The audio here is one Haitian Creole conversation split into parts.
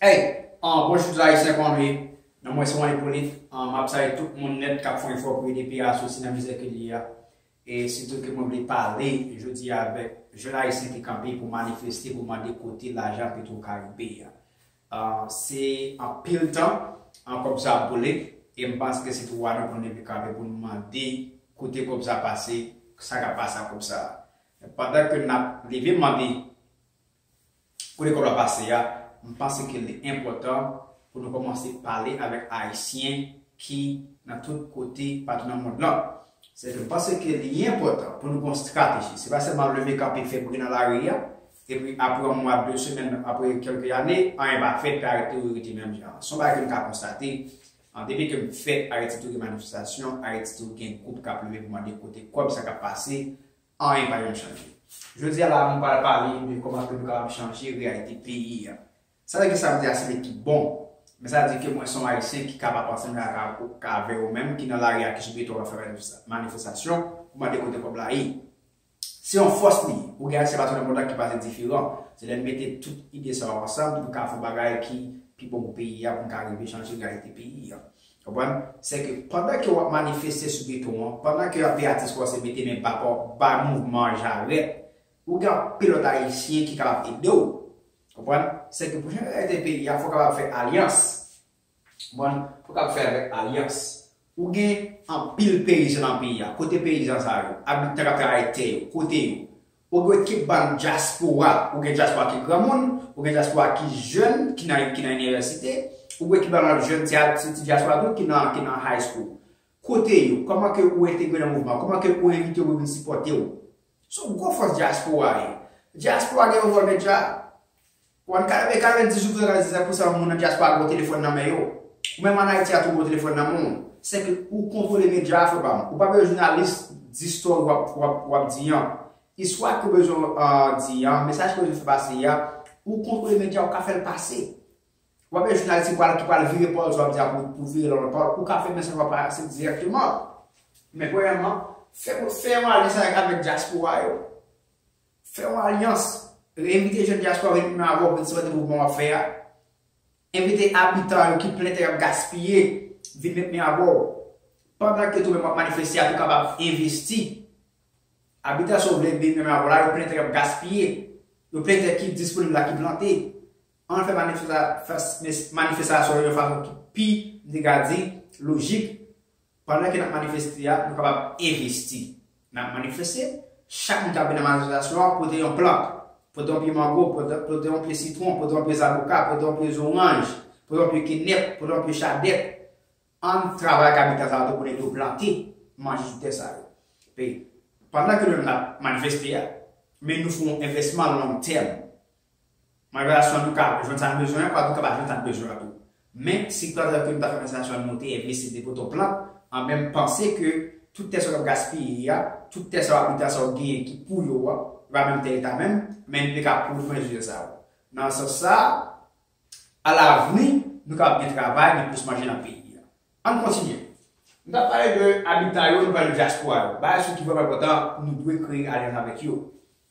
Hey an bon chou zayisyen pa anmwe nan mwen son enpolit an map saye tout moun net kap fon efò pou ede piya soti nan mizè ke li ye a e sitou ke mwen vle pale jodi a avek jèn ayisyen ki kanpe pou manifeste pou mande kote lajan petro karibe a an se anpil tan an kob sa ap boule e m panse ke se dwa nou pou nou leve kanpe pou nou mande kote kob sa pase sa kap pase ak kob sa. Men pandan ke n ap leve mande pou lekòl la pase a, m panse ke li enpòtan pou nou kòmanse pale avèk Ayisyen ki nan tout kote patou nan mond lan. Se ke m panse ke li enpòtan pou nou gen yon strateji. Se pa sèlman leve kanpe fè bri nan lari a, epi apre yon mwa, de semèn, apre kèlke ane, anyen pa fèt, epi Ayiti tou rete menm jan an. Se yon bagay ke m ka konstate, depi ke m fèt, Ayiti tou gen manifestasyon, Ayiti tou gen gwoup k ap leve pou mande kote kòb, sa k ap pase, Anyen pa janm chanje. Jodi a la nou pral pale de kòman ke nou kapab chanje reyalite peyi a. Sa vle di sa m di a se te ki bon. Men sa di ke mwen son Ayisyen ki ka pa panse menm jan avè ou menm ki nan lari a ki sou beton an fè manifestasyon pou mande kote kòb la ye. Se yon fòs li ye. Pou gen Ayisyen patou nan mond lan ki panse diferan. Se lè nou mete tout ide sa yo ansanm nou ka fè yon bagay ki pi bon pou peyi a pou nou ka rive chanje reyalite peyi a. Konprann? Se ke pandan ke wap manifeste sou geto an, pandan ke anpe atis kòmanse mete men pa pa w bay mouvman an jarèt, ou gen anpe lòt ayisyen ki kapab ede w. Konprann? Se ke pou jan reyalite peyi a, fò w kapab fè alyans. Konprann? Fò w kapab fè avèk alyans. Ou gen anpil peyizan nan peyi a. Kote peyizan sa yo? Abitan kap travay tè yo, kote yo? Ok ki bann dyaspora ou gen dyaspora ki granmoun ou gen dyaspora ki jèn ki nan ki nan inivèsite ou gen ki bann lòt jèn ti atis ti dyaspora tou ki nan ki nan high school kote yo kòman ke ou entegre nan mouvman an kòman ke ou envite yo pou yo vin sipòte ou se yon gwo fòs dyaspora ye dyaspora gen yon vòl medya Wan kalme kale di sou frere aziza pousa moun nan diaspora gen yon telefon nan men yo ou menm an ayiti a tou gen yon telefon nan menw se ke ou kontrole media a fre pam ou pa bezwen jounalis di story wap wap di an istwa ke ou bezwen di an mesaj ke ou bezwen fè pase a ou kontrole media ou ka fèl pase ou pa bezwen jounalis ki pral ki pral vire pawol sa wap di a pou vire lòt pawol ou ka fè mesaj wap pase direkteman men premyèman fè yon alyans avèk diaspora yo. Fè yon alyans. Envite jèn dyaspora vin menm avè w pou n sipòte mouvman w ap fè a. Envite abitan yo ki plen tè y ap gaspiye vin met men avè w. Pandan ke tou-menm w ap manifeste a tou kapab envesti. Abitan sa w vle vin menm avè w la yo plen tè y ap gaspiye. Yo plen tè ki disponib la ki plante. An n fè manifestasyon yo yon fason ki pi, m te ka di, lojik. Pandan ke n ap manifeste a, nou kapab envesti. N ap manifeste, chak moun k ap vin nan manifestasyon an pote yon plant, pote yon pye mango, pote yon pye sitwon, pote yon pye zaboka, pote yon pye zoranj, pote yon pye kenèp, pote yon pye chadèk. An n travay ak abitan sa yo tou pou n ede yo plante, manje sou tè sa yo. Epi, pandan ke nou menm n ap manifeste a, men nou fè yon envèsman long tèm. Mwen wè relasyon an tou ka jwenn sa l bezwen an, kwa tou ka pa jwenn sa n bezwen an tou. Men, si tout atrè ke nou ta fè manifestasyon an nou te envesti se te poto plan, anben m panse ke tout tè sa yo k ap gaspiye a, tout tè sa yo abitan sa yo genyen ki pou yo a, yo pa menm tè leta menm, men nou te ka pwouve mwen rezilta sa yo. Nan sans sa a, alavni, nou kapab gen travay, gen plis manje nan peyi a. An n kontinye. Nou ta pale de abitan yo, nou pale de dyaspora yo. Bagay sou ki vrèman enpòtan, nou dwe kreye alyans avèk yo.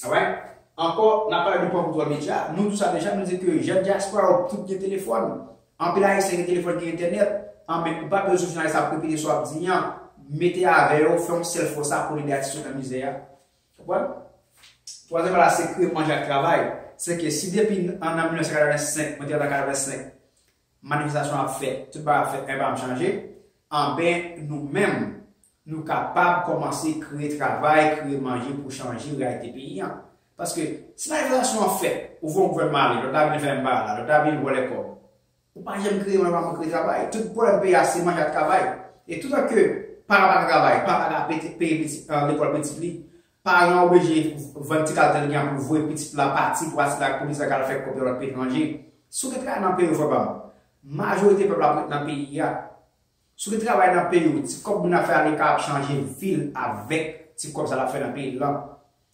Alright? Ankò, n ap pale de pòv koutwa medya. Nou di sa deja, nou di ke jèn dyaspora yo tout gen telefòn. Anpil Ayisyen gen telefòn, gen entènèt. Anben, ou pa bezwen sou jounalis ap repete sa w ap di an. Mete avè yo, fè yon sèl fò sa pou n ede atis yo nan mizè a. Konprann? Twazyèm bagay la se kreye manje ak travay. Se ke si depi an nan 1985, mwen te antre an 85, Manifestasyon ap fèt, tout bagay ap fèt, anyen pa janm chanje, anben nou menm nou kapab kòmanse kreye travay, kreye manje pou chanje reyalite peyi an. Paske si manifestasyon an fèt, ou vè yon gouvènman ale, lòt la vin fè menm bagay la, lòt la vin vòlè kòb, ou pa janm kreye manje, ou pa janm kreye travay. Tout pwoblèm peyi a se manje ak travay. E toutan ke paran pa ka travay, paran pa ka peye lekòl pitit li, Paran oblige vann ti kal tèt li an pou voye pitit la pati pou asile ak polis la kal fè kòb nan lòt peyi etranje. Si w gen travay nan peyi w frè pa m, majorite pèp la ap ret nan peyi a. Si w gen travay nan peyi w, ti kòb moun ap fè aleka ap chanje vi l avèk ti kòb sa l ap fè nan peyi l lan.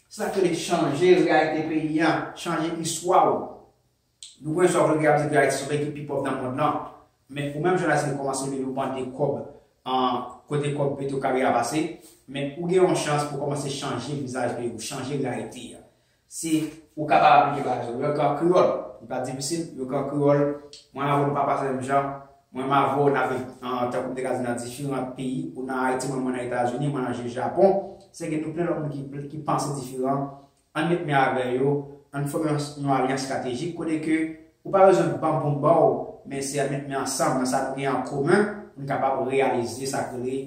Se sa k rele chanje reyalite peyi an, chanje istwa w. Nou konnen sa vlge ap di ke Ayiti se peyi ki pi pòv nan mond lan, men ou menm jounalis ki kòmanse leve yon bande kòb kote kòb petro karibe a pase, men ou gen yon chans pou kòmanse chanje vizaj peyi ou, chanje reyalite a. Se. Ou kapab aplike bagay yo. Yo ka an kreyòl. Li pa difisil. Yo ka an kreyòl. Mwen avè w nou pa panse menm jan. Mwen menm avè w n ap viv tankou m te ka di nan diferan peyi. Ou nan Ayiti mwen mwen nan Etazini, mwen nan Japon. Se ke nou plen lòt moun ki panse diferan. Ann met men avè yo, ann fòme yon yon alyans stratejik kote ke ou pa bezwen banm pou m ba w, men se an met men ansanm nan sa nou gen an komen pou n kapab reyalize sa k rele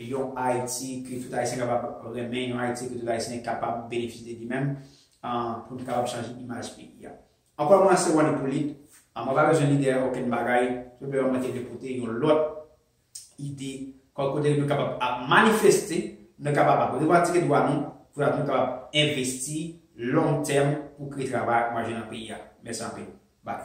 yon Ayiti ke tout Ayisyen kapab renmen, yon Ayiti ke tout Ayisyen kapab benefisye de li menm pou nou kapab chanje imaj peyi a. Ankò mwen se Wòl Ipolit, mwen pa bezwen lide okenn bagay, tout bèman mwen te vle pote yon lòt ide kòm kote nou kapab ap manifeste, nou kapab ap revandike dwa nou pou dat nou kapab envesti long tèm pou kreye travay ak manje nan peyi a. Mèsi anpil. Bye.